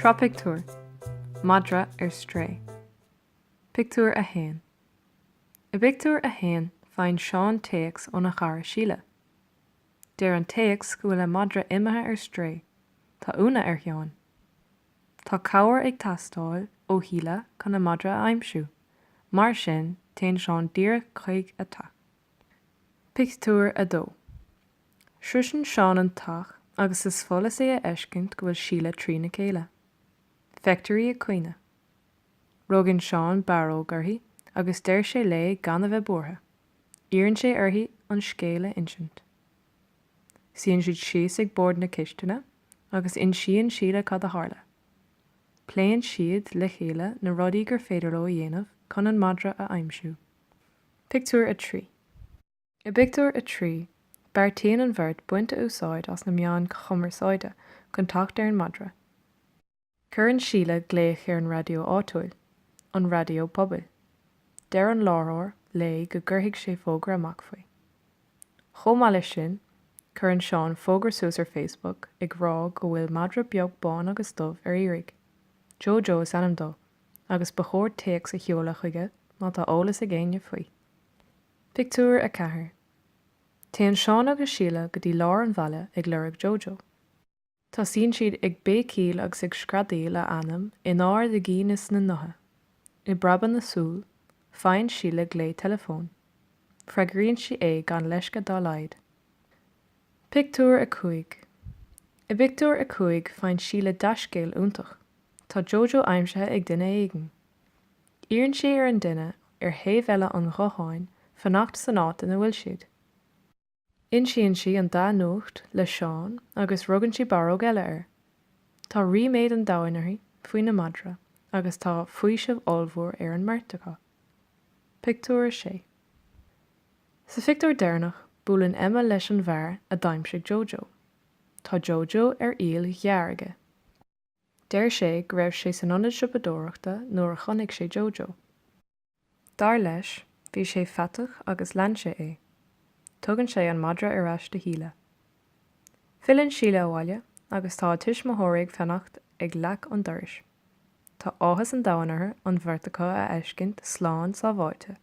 Sraith Pictiúr, Madra ar Strae, Pictiúr 1 I bpictiúr a haon faigheann Seán téacs óna chara Síle. Deir an téacs go bhfuil a madra imithe ar strae. Tá ionadh ar Sheán. Tá cabhair ag teastáil ó Shíle chun a madra a aimsiú, mar sin téann Seán díreach chuig a teach. Pictiúr 2 Sroiseann Seán an teach agus is follas é a fheiscint go bhfuil Síle trína chéile. Feictear í ag caoineadh. Rugann Seán barróg uirthi agus deir sé léi gan a bheith buartha. Iarrann sé uirthi an scéal a insint. Suíonn siad síos ag bord na cistine agus insíonn Síle cad a tharla. Pléann siad le chéile na rudaí gur féidir leo a dhéanamh chun an madra a aimsiú. Pictiúr 3 I bpictiúr a trí, beartaíonn an bheirt baint úsáide as na meáin chumarsáide chun teacht ar an madra. Cuireann Síle glaoch ar an raidió áitiúil, an raidió pobail. Deir an láithreoir léi go gcuirfidh sé fógra amach faoi. Chomh maith leis sin, cuireann Seán fógra suas ar Facebook ag rá go bhfuil madra beag bán agus dubh ar iarraidh. Jojo is ainm dó. agus ba chóir téacs a sheoladh chuige má tá eolas ag éinne faoi. Pictiúr 4 Téann Seán agus Síle go dtí lár an bhaile ag lorg Jojo. Tosaíonn siad ag béicíl agus ag screadaíl a ainm in ard a gcinn is a ngutha. I bpreabadh na súl, faigheann Síle glao teileafóin. Freagraíonn sí é gan leisce dá laghad. Pictiúr 5 I bpictiúr a cúig faigheann Síle dea-scéal iontach, tá Jojo aimsithe ag duine éigin. Iarrann sí ar an duine ar thaobh eile an ghutháin fanacht san áit ina bhfuil siad. Insíonn sí an dea-nuacht le Seán agus rugann sí barróg eile air. Tá ríméad an domhain uirthi faoina madra agus tá faoiseamh ollmhór ar an mbeirt acu. Pictiúr 6. Sa phictiúr deireanach, buaileann Emma leis an bhfear a d'aimsigh Jojo. Tá Jojo ar iall ghearr aige. Deir sé go raibh sé san ionad siopadóireachta nuair a chonaic sé Jojo. Dar leis, bhí sé faiteach agus lean sé é. Tugann sé an madra ar ais do Shíle. Filleann Síle abhaile agus tá a tuismitheoirí ag fanacht ag leac an dorais. Tá áthas an domhain orthu an bheirt acu a fheiscint slán sábháilte.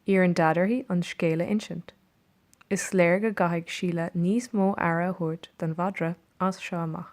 Iarrann Daid uirthi an scéal a insint. Is léir go gcaithfidh Síle níos mó aire a thabhairt don mhadra as seo amach.